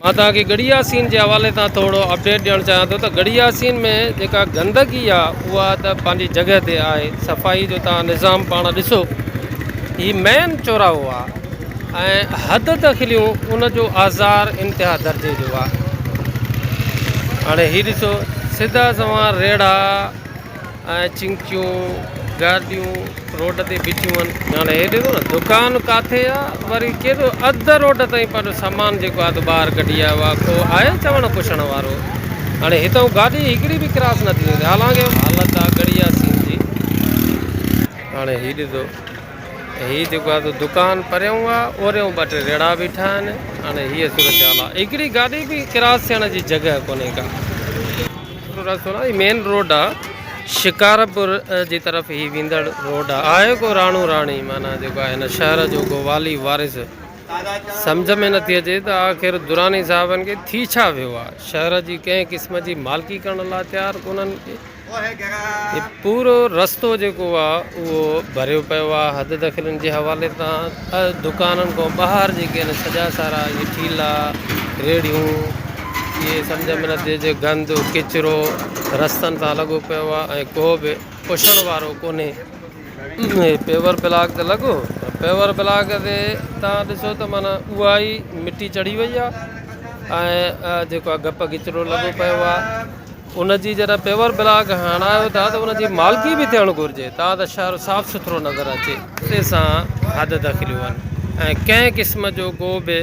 مان توهان کي ڳڙهي ياسين جي حوالي سان ٿورو اپڊيٽ ڏيڻ چاهيان ٿو ته ڳڙهي ياسين ۾ جيڪا گندگي آهي اها ته پنهنجي جڳهه تي آهي صفائي جو توهان نظام پاڻ ڏسو هي مين چوراهو آهي ۽ حد دخليون ان جو آزار انتها درجي جو آهي هاڻي هي ڏسو سڌا سوان ريڙها اهي چنگچيون گارڊيون روڊ تي بيٺيون هن. هاڻي هي ڏسو نه دڪان ڪاٿي آ وري ڪير ٿو اڌ روڊ تائين پنهنجو سامان جيڪو آ ته ٻاهر ڪڍي آيو آ ڪو آهي چوڻ پڇڻ وارو هاڻي هتئون گاڏي هڪڙي به ڪراس نه ٿي سگهندي حالانڪه حالت آ گڙيا سين جي. هاڻي هي ڏسو هي جيڪو آ تو دڪان پريون آ اوريون ٻه ٽي ريڙها بيٺا هن هاڻي هيء صورتحال آ هڪڙي گاڏي به ڪراس ٿيڻ جي جڳهه ڪونهي ڪا. سٺو راستو نه هي مين روڊ آ شڪارپور جي طرف هي ويندڙ روڊ آ آهي ڪو راڻو راڻي معنيٰ جيڪو آهي هن شهر جو ڪو والي وارث سمجهه ۾ نٿي اچي ته آخر دراني صاحبن کي ٿي ڇا ويو آ شهر جي ڪنهن قسم جي مالڪي ڪرڻ لا تيار ڪونهن ڪي هي پورو رستو جيڪو آ اهو ڀريو پيو آ حد دخلن جي حوالي تان دڪانن کان ٻاهر جيڪي آهن سڄا سارا اهي ٺيلا ريڙهيون اهي سمجهه ۾ نٿي اچي گند ڪچرو رستن تان لڳو پيو آهي ۽ ڪو به پڇڻ وارو ڪونهي پيور بلاڪ ته لڳو پر پيور بلاڪ تي تان ڏسو ته مانا اها ئي مٽي چڙهي وئي آهي ۽ جيڪو آهي گپ ڪچرو لڳو پيو آهي ان جي جڏهن پيور بلاڪ هڻايو ٿا ته ان جي مالڪي به ٿيڻ گهرجي تان ته شهر صاف سٿرو نظر اچي. رستي سان حد دخليون هن ۽ ڪنهن قسم جو ڪو به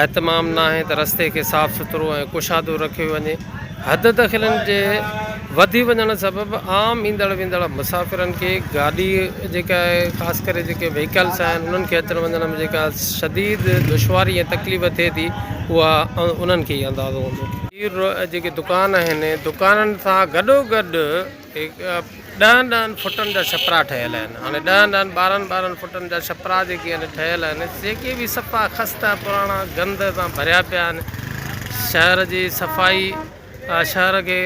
اهتمام ناهي ته رستي کي صاف سٿرو ۽ ڪشادو رکيو وڃي. حد دخلين جي وڌي وڃڻ سبب عام ايندڙ ويندڙ مسافرن کي گاڏي جيڪا آهي خاص ڪري جيڪي وهيڪلس آهن انهن کي اچڻ وڃڻ ۾ جيڪا شديد دشواري ۽ تڪليف ٿئي ٿي اها انهن کي ئي اندازو هوندو. پير روء جيڪي دڪان آهن، دڪانن سان گڏوگڏ ڏهن ڏهن فٽن جا شپرا ٺهيل آهن. هاڻي ڏهن ڏهن ٻارهن ٻارهن فٽن جا شپرا جيڪي هن ٺهيل آهن، جيڪي به صفا خسته، پراڻا، گند سان ڀريا پيا آهن. شهر جي صفائي، شهر کي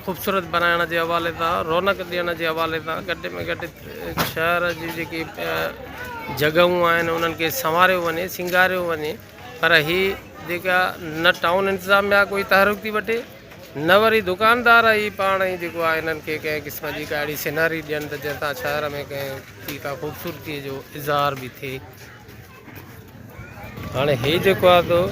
خوبصورت بنائڻ جي حوالي سان، رونق ڏيڻ جي حوالي سان گهٽ ۾ گهٽ شهر جي جيڪي جڳهون آهن، انهن کي سنواريو وڃي، سينگاريو وڃي. پر هي جيڪا نه ٽائون انتظاميا ڪوئي تحرڪ ٿي وٺي نه وري دڪاندار ئي پاڻ ئي جيڪو آهي هنن کي ڪنهن قسم جي ڪا اهڙي سيناري ڏين ته جنهن تان شهر ۾ ڪنهن ڪي ڪا خوبصورتي جو اظهار به ٿئي هاڻي هي جيڪو آهي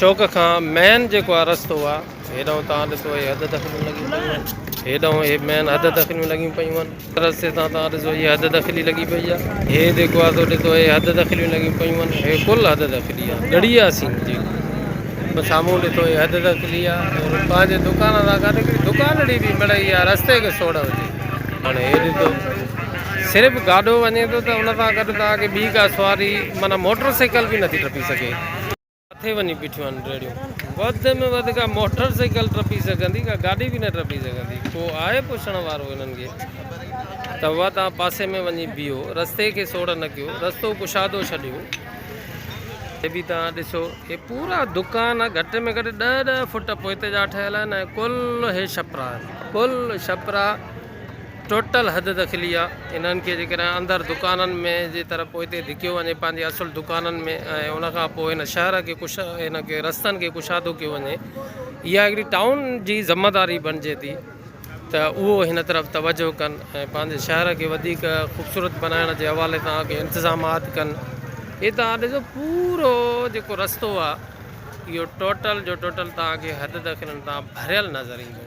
چوڪ کان مين جيڪو آهي رستو آهي هيڏانهن توهان ڏسو هي حد دخليون لڳيون پيون آهن هيڏانهن هي مين حد دخليون لڳيون پيون آهن رستي تان توهان ڏسو هي حد دخلي لڳي پئي آهي هي جيڪو آهي سو ڏسو هي حد دخليون لڳيون پيون آهن هي ڪل حد دخلي آهي ڳڙهي آهي سين جيڪو سامهون ڏسو هي حد دخلي آهي اور پنهنجي دڪان سان گڏ هڪڙي دڪانڙي به مڙئي آهي رستي کي سوڙ هجي هاڻي هي ڏسو صرف گاڏو وڃي ٿو ته ان سان گڏ توهان کي ٻي ڪا سواري معنيٰ موٽر سائيڪل به نٿي ٽپي سگهي ڪٿي وڃي بيٺيون آهن ريڙهيون؟ وڌ ۾ وڌ ڪا موٽر سائيڪل ٽپي سگهندي، ڪا گاڏي به نه ٽپي سگهندي. ڪو آهي پڇڻ وارو هنن کي؟ ته اها توهان پاسي ۾ وڃي بيهو، رستي کي سوڙهه نه ڪيو، رستو ڪشادو ڇڏيو. هي به توهان ڏسو، هي پورا دڪان گهٽ ۾ گهٽ ڏهه ڏهه فوٽ پوئتي جا ٺهيل آهن ۽ ڪل هي ڇپرا آهن، ڪل ڇپرا. ٽوٽل حد دخلي آ انهن کي جيڪڏهن اندر دڪانن ۾ جي طرح پوئتي ڌڪيو وڃي پنهنجي اصل دڪانن ۾ ۽ ان کان پوء هن شهر کي ڪش هن کي رستن کي ڪشادو ڪيو وڃي اها هڪڙي ٽائون جي ذميواري بڻجي ٿي ته اهو هن طرف توجه ڪن ۽ پنهنجي شهر کي وڌيڪ خوبصورت بنائڻ جي حوالي سان اڳي انتظامات ڪن هي تان ڏسو پورو جيڪو رستو آ اهو ٽوٽل جو ٽوٽل تان کي حد دخلن تان ڀريل نظر ايندو